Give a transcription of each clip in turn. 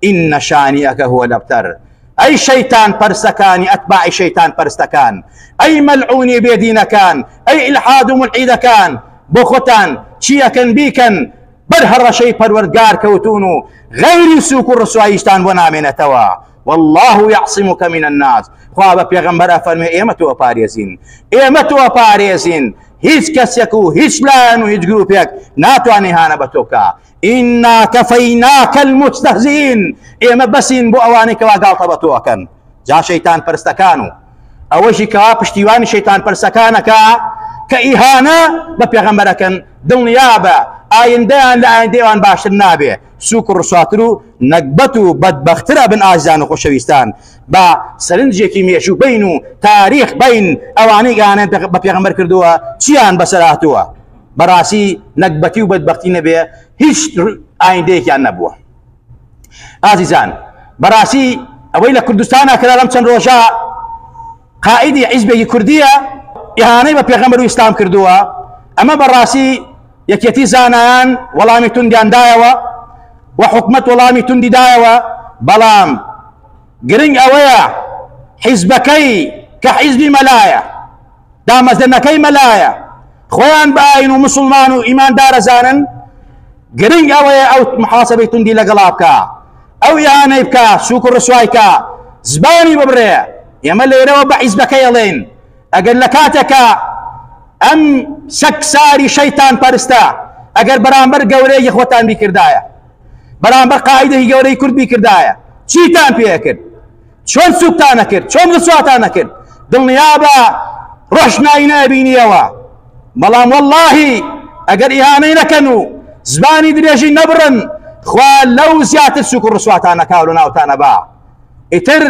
ان شانئک هو الابتر ئەی شەیتان پەرستەکانی ئەتباعی شەیتان پەرستەکان ئەی مەلعونی بێدینەکان ئەی ئلحاد و ملعیدەکان بۆ خۆتان چیەکەن بیکەن بەر هەڕەشەی پەروەردگار کەوتون و غەیری سوک و ڕسواییشتان بۆ نامێنێتەوە والله يعصمك من الناس خوا بە پێغەمبەر ئەفەرمێ ئێمە تۆ پارێزین ئێمە تۆ پارێزین هیچ کەسێک و هیچ لایەن و هیچ گروپێک ناتوانێ هانە بە تۆ بکا ئینا کەفەیناکە المستهزئین ئێمە بەسین بۆ ئەوانەی کەوا گاڵتە بە تۆ ئەکەن جا شەیتان پەرستەکان و ئەوەشی کەوا پشتیوانی شەیتان پەرسەکانەکە کە ئیهانە بە پێغەمبەرەکەن دڵنیا بە ئایندەیان لە ئایندەیان باشتر نابێ سوک و ڕسواتر و نەگبەت و بەدبەخترە بن ئازیان و خۆشەویستان بە سەرنجێکی مێژوو بین و تاریخ بین ئەوانەی گانە بە پێغەمبەر کردووە چیان بەسەراتووە بەڕاستی نەگبەتی و بەدبەختی نەبێ هیچ ئایندەیەکیان نەبووە ئازیزان بەڕاستی ئەوەی لە کوردستانە کرا لەم چەند ڕۆژە قائیدی عیزبێکی کوردیە ئیهانەی بە پێغەمبەر و ئیسلام کردووە ئەمە بەڕاستی یەکێتی زانایان وەڵامی توندیاندایەوە و حکومت وەڵامی توندی دایەوە بەڵام گرنگ ئەوەیە حیزبەکەی کە حیزبی مەلایە دامەزرێنەکەی مەلایە خۆیان بە ئاین و مسلمان و ئیمان دارەزانن گرنگ ئەوەیە ئەو محاسبەی توندی لەگەڵا بکە ئەو یانەی بکە سوک و ڕسوایکە زبانی ببرێ ئێمە لێرەوە بە حیزبەکەی ئەڵێن ئەگەر لە کاتێکە ئەم سەکساری شەیتان پەرستە ئەگەر بەرامبەر گەورەیەکی خۆتان بیکردایە بەرامبەر قاعدەی گەورەی کورد بیکردایە چیتان پێکرد چۆن سوکتان نەکرد چۆن رسواتان نەکرد دڵنیابە ڕۆشنایی نابینیەوە بەڵام واللهی ئەگەر ئیهانەی نەکەن و زبانی درێژی نەبڕن خوا لەو زیاتر سوک و ڕسواتان نەکاو لە ناوتانە با ئیتر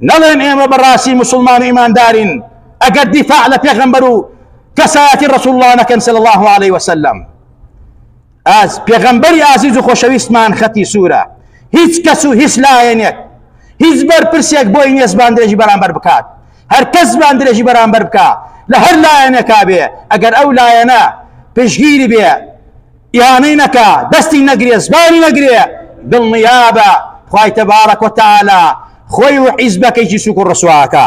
نەڵێن ئێمە بەڕاستی مسلمان و ئیماندارین ئەگەر دیفاع لە پێغەمبەر و کەسایەتی ڕسوڵڵانەکەن سەل الله عليه وسلم ئاز پێغەمبەری ئازیز و خۆشەویستمان خەتی سوورە هیچ کەس و هیچ لایەنێک هیچ بەرپرسێک بۆی نیە زبان درێژی بەرامبەر بکات هەر کەس زبان درێژی بەرامبەر بکە لە هەر لایەنێکا بێ ئەگەر ئەو لایەنە پشگیری بێ ئیانەی نەکە دەستی نەگرێ زبانی نەگرێ دڵنیابە خی تەبارە کۆتالە خۆی و حیزبەکەیی سوک و ڕسواکە